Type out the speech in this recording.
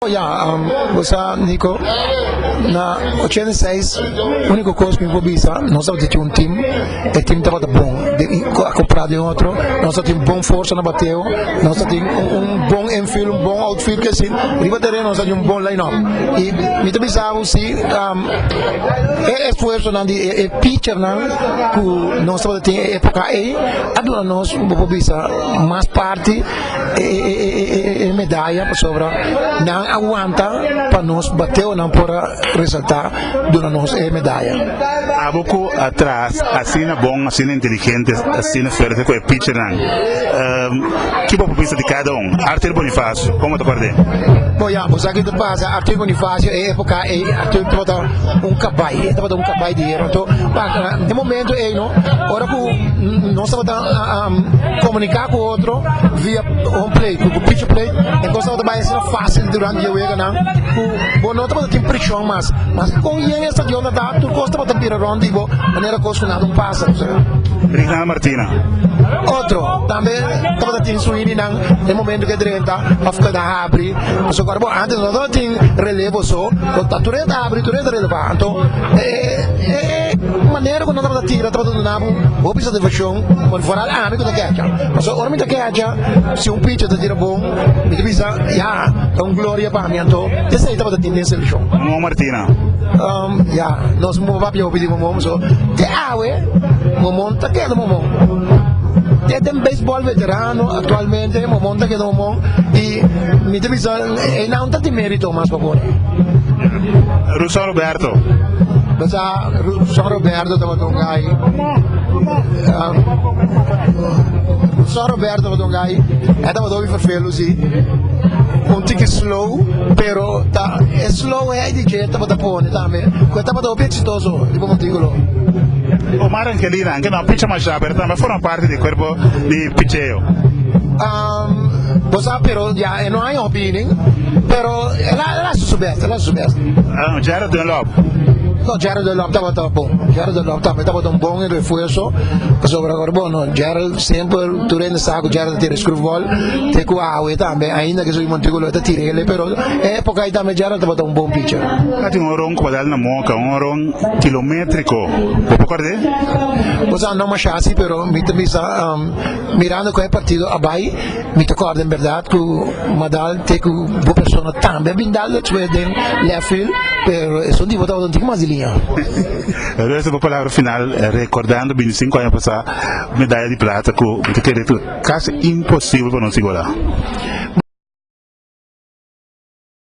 Ya, bo sa Nico, na ochenta i seis único cos cu mi por bisa, nos tabata tin un team, e team tabata bon, acopra den otro, nos tatin bon forza na bateo, nos tatin un bon infield, un bon outfield ki asin, riba teren nos ta tin un bon line up, y mi ta bisa bo si e esfuersonan di e pitchernan cu nos tabata tin e epoca ey a duna nos bo por bisa mas parti. e medaya pasobra nan a wanta pa nos bateo nan por a resalta duna nos e medaya. Abo cu atras asina bon asina inteligente asina fuerte cu e pitcher nan ki bo por bisa di cada un? Arthur Bonifacio como ta por den? Bo ya bo sa ki ta pasa Arthur Bonifacio e epoca ey Arthur tabata un cabai e tabata un cabai di hero anto e momento ey no ora cu nos tabata Komunika ku otro via home plate ku picture plate e kos tabata bai asina fásil durante e weganan ku bo no tabata tin prishon mas. Maske kon bien e stadion ta ta, tur kos tabata bira rònt di bo manera kos ku nada un pasa. Brigna Martina. Otro tambe tabata tin su hininan e momento ku e drenta òf ku e ta habri pasobra ku ora bo ántes no tabata tin relevo so bo ta tur e ta habri tur e ta relevá. Anto e manera ku nan tabata tira tabata duna. Hopi satifaccion por foral ami cu ta kecha, pasobra ora mi ta kecha si un picha ta tira bon mi ta bisa ya ta un gloria pa mi anto esey tabata tin den seleccion. Mamó Martina. Um, ya, nos momo papia hopi di mamó, so te awe mamó ta keda mamó. Te den baseball veterano actualmente mamó ta keda mamó y mi ta bisa enan ta tin merito mas pa por. Russo Roberto. Profesor Roberto tabata un gai Profesor Roberto tabata un gai e tabata hopi vervelu si un tiki slow pero ta e slow e di ke tabata pone tambe ku e tabata hopi exitoso di bo montículo Omar Angelina anke no a picha masha pero tambe a forma parti di cuerpo di picheo bo sa pero ya e no hay hopi nin pero el a el a haci su best el a haci su best Jared Dunlop No Gerald de Lop tabata bon Gerald de Lop tambe tabata un bon refuerzo pasobra agora bueno Gerald semper tur hende sa ku Gerald ta tira e skrufbal te ku awe tambe ainda ke su iman tiko lo e ta tira ele pero e epoka ai tambe Gerald tabata un bon picha a tin un horon ku batal na moka un horon kilometriko bo por korde o sa no masha si pero mi ta bisa mirando kon e partido a bai Mi ta kòrda en bèrdat ku m'a dal te ku bo persona tambe a bin dal despues den lèft field, pero esun di bo tabata un tiki mas di liña. Resta bo palabra final rekòrdando binti sinku aña pasá medaya di plata ku mi ta kere ku kasi imposibel pa nos igualá.